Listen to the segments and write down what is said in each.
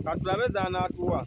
katulabe zanatuwa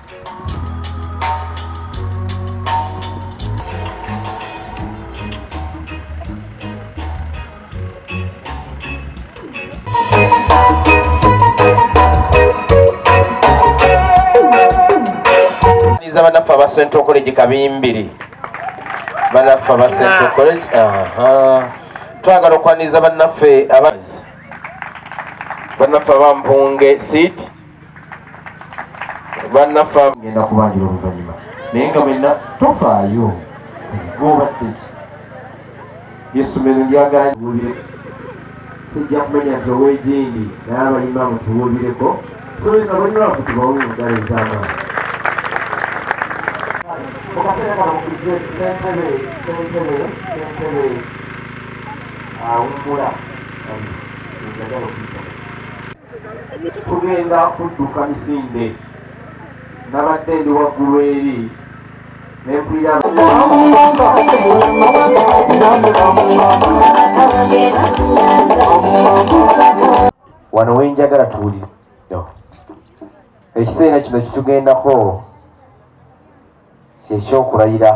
za banaffe aba central college kabimbiri banaffe aba central ah. college twagala okwaniriza banaffe banaffe aba mpunge seat bannaffe ngenda kubanjira oluvannyuma naye nga mwenna tofaayo gobaddeki yesomero lyagala sijja kumenya nti owegindi naye abayimba mutuwulireko tuweza bonyolaku tubawe mudala ezamaani okaseera kano kujje sentebe sentebe sentebe awumbula njagala okuyita tugenda kudduka misinde nabadde ndi waggulu eri nempulira wano wenjagala tuli ekiseera kino kitugendako kyekyokulayira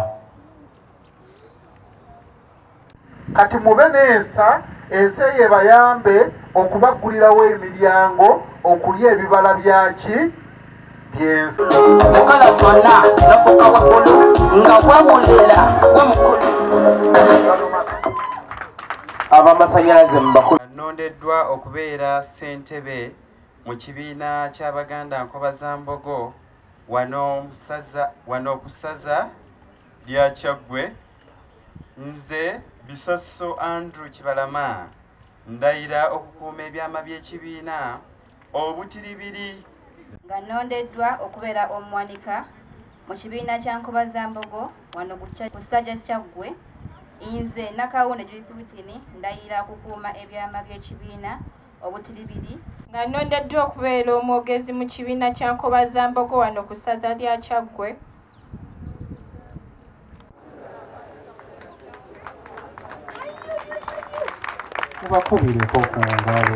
kati mube n'ensa ensi eyo ebayambe okubaggulirawo emiryango okulya ebibala byaki byensi okola zonna nofuka waggulu nga wawulira gwe mukulu abamasanyalaze mubakulu anondeddwa okubeera ssentebe mu kibiina ky'abaganda nkoba za mbogo wano ku ssaza lya kyaggwe Nze Bisosso Andrew Kibalama ndayira okukuuma ebyama by'ekibiina obutiribiri nga nnondeddwa okubeera omuwanika mu kibiina kya Nkobazambogo wano ku kisajja kyaggwe nze Nakawunde Judith Witini ndayira okukuuma ebyama by'ekibiina obutiribiri nga nnondeddwa okubeera omwogezi mu kibiina kya nkobazambogo wano ku ssaza lya kyaggwe mubakubireko ku ngalo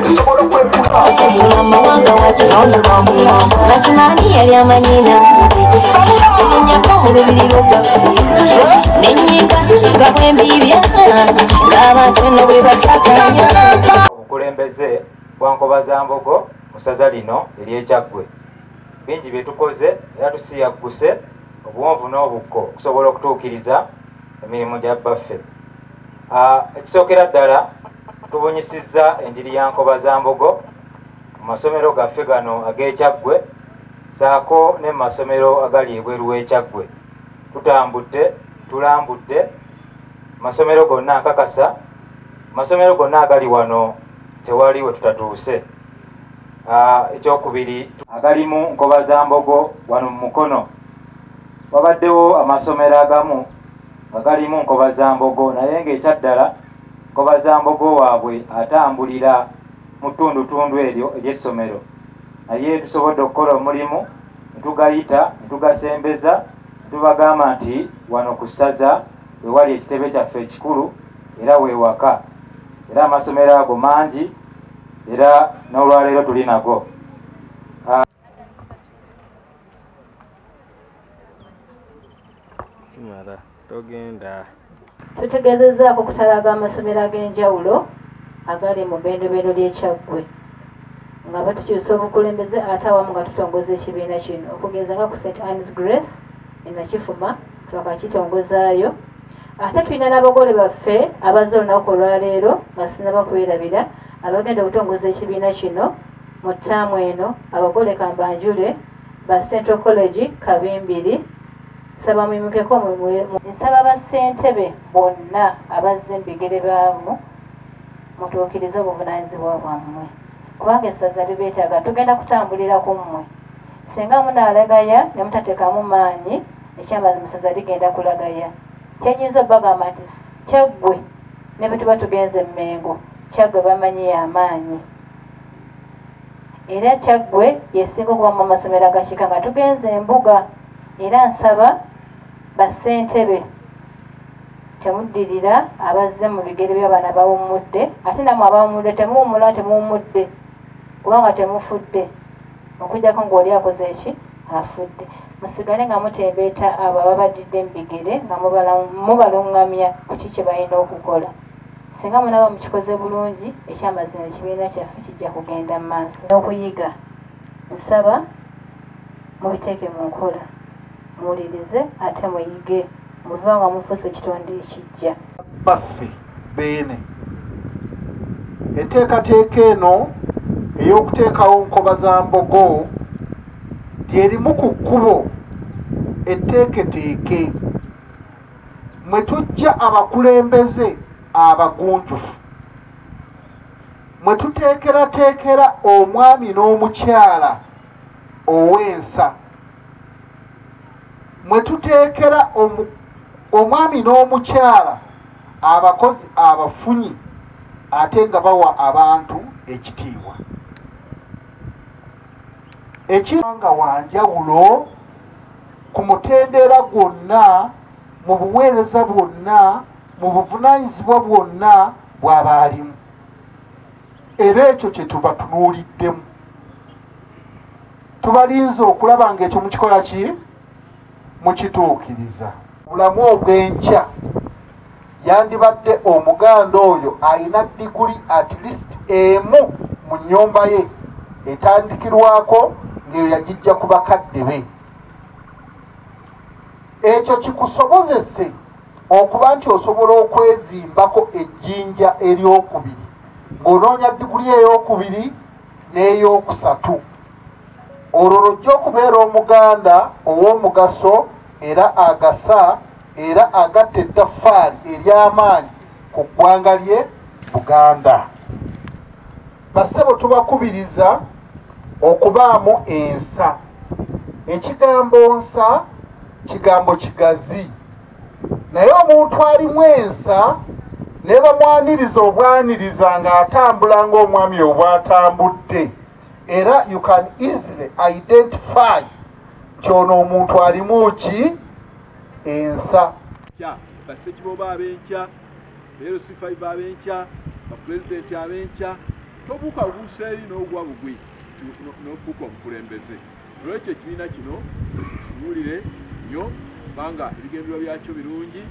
tusobola okwekulaosasula amawanga wakisaonebamuwamba mazima ani yali amanyina enyako mu lubiri lwogaffe nenyimba nga bwembibya ng'abantu no bwe basakanya obukulembeze bwankobazambogo mu saza lino eryekyaggwe bingi bye tukoze era tusiyagguse obuwonvu n'obukko okusobola okutuukiriza emirimu gya bbaffe ah, ekisookera ddala tubunyisizza enjiri ya nkoba za mbogo mu masomero gaffe gano ag'ekyaggwe saako ne mu masomero agali ebweru w'ekyaggwe tutambudde tulambudde masomero gonna nkakasa masomero gonna agali wano tewali we tutatuuse ah, ekyokubiri agalimu nkoba za mbogo wano mu mukono wabaddewo amasomero agamu nga galimu nkobazambogo naye ng'ekyaddala nkobazambogo waabwe atambulira mu ttundutundu eryo ery'essomero naye tusobodde okukola omulimu netugayita netugasembeza netubagamba nti wano ku ssaza wewali ekitebe kyaffe ekikulu era wewaka era amasomero ago mangi era n'olwaleero tuli nago kimala togenda tutegeezezzaako okutalaaga amasomero ag'enjawulo agali mu bendobendo ly'ekyaggwe nga batukyusa obukulembeze ate awamu nga tutongoza ekibiina kino okugeza nga ku st annes grace enakifuma twakakitongozaayo ate tulina n'abagole baffe abazze olunaku olwaleero nga sinaba kwerabira abagenda okutongoza ekibiina kino mu ttaamu eno abagole kambanjule ba Central College Kabimbiri nsaba muyimukeko nsaba bassentebe bonna abazze mubigere baamu mutuukirize obuvunanyizibwa bwammwe kubanga essaza libeetaaga tugenda kutambulira ku mmwe singa munaalagaya ne mutateekamu maanyi ekyamazima essaza ligenda kulagaya kyenyinza obagamba nti kyaggwe ne bwe tuba tugenze emmengo kyaggwe bamanyi y'amaanyi era kyaggwe yesinga okuba mu masomero agakiika nga tugenze embuga era nsaba bassentebe temuddirira abazze mu bigere byabaana bawummudde ate namwe abawummudde temuwumula temuwummudde kubanga temufudde okujjako ngaoli akoze eki afudde musigale nga mutembeeta abo ababaddidde mu bigere nga mubalungamya kuki kye balina okukola Singa munaba mukikoze bulungi, ekyamazima ekibiina kyaffe kijja kugenda mu maaso n'okuyiga. Nsaba mubiteeke mu nkola, muwulirize ate muyige, muveewo nga mufuuse ekitonde ekijja. Baffe Beene. Enteekateeka eno ey'okuteekawo nkoba za mbogo lyerimu ku kkubo etteeketeeke mwe tujja abakulembeze abagunjufu mwe tuteekerateekera omwami n'omukyala ow'ensa mwe tuteekera omwami n'omukyala abakozi abafunyi ate nga bawa abantu ekitiibwa ekiranga wanjawulo ku mutendera gwonna mu buweereza bwonna mu buvunanyizibwa bwonna bwaba alimu era ekyo kyetuba tunuuliddemu tubalinze okulaba nga ekyo mukikola ki mukituukiriza bulamu obw'enkya yandibadde omuganda oyo alina diguli at least emu mu nnyumba ye etandikirwako ng'eyo yagijja ku bakadde be ekyo kikusobozese okuba nti osobola okwezimbako ejjinja eryokubiri ng'onoonya diguli eyokubiri n'eyokusatu olwo lujja okubeera omuganda ow'omugaso era agasa era agatta ettaffaali ery'amaanyi ku ggwanga lye buganda basebo tubakubiriza okubaamu ensa ekigambo nsa kigambo kigazi naye omuntu alimu ensa nebamwaniriza obwaniriza ng'atambula ng'omwami obwatambudde era you can easily identify nti ono omuntu alimu ki ensa basekiboba abenkya beerosifaiba abenkya bapulezidenti abenkya tobuuka buusa eri n'ogwa bugwi nofuuka omukulembeze olwekyo ekibiina kino kitunuulire nnyo kubanga ebigendererwa byakyo birungi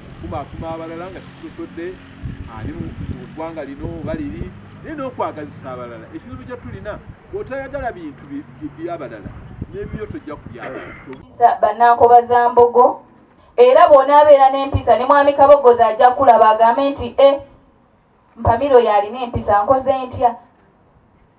okukumaakuma abalala nga kisosodde ali mu ggwanga lino oba liri naye n'okwagazisa abalala ekizibu kye tulina bw'otayagala bintu byabalala n'ebibyo tojja kubyagala bannankoba za mbogo era bw'onaabeera n'empisa ne mwami kabogozi ajja kulaba agambe nti e eh, mpamiro yalina empisa nkoze ntya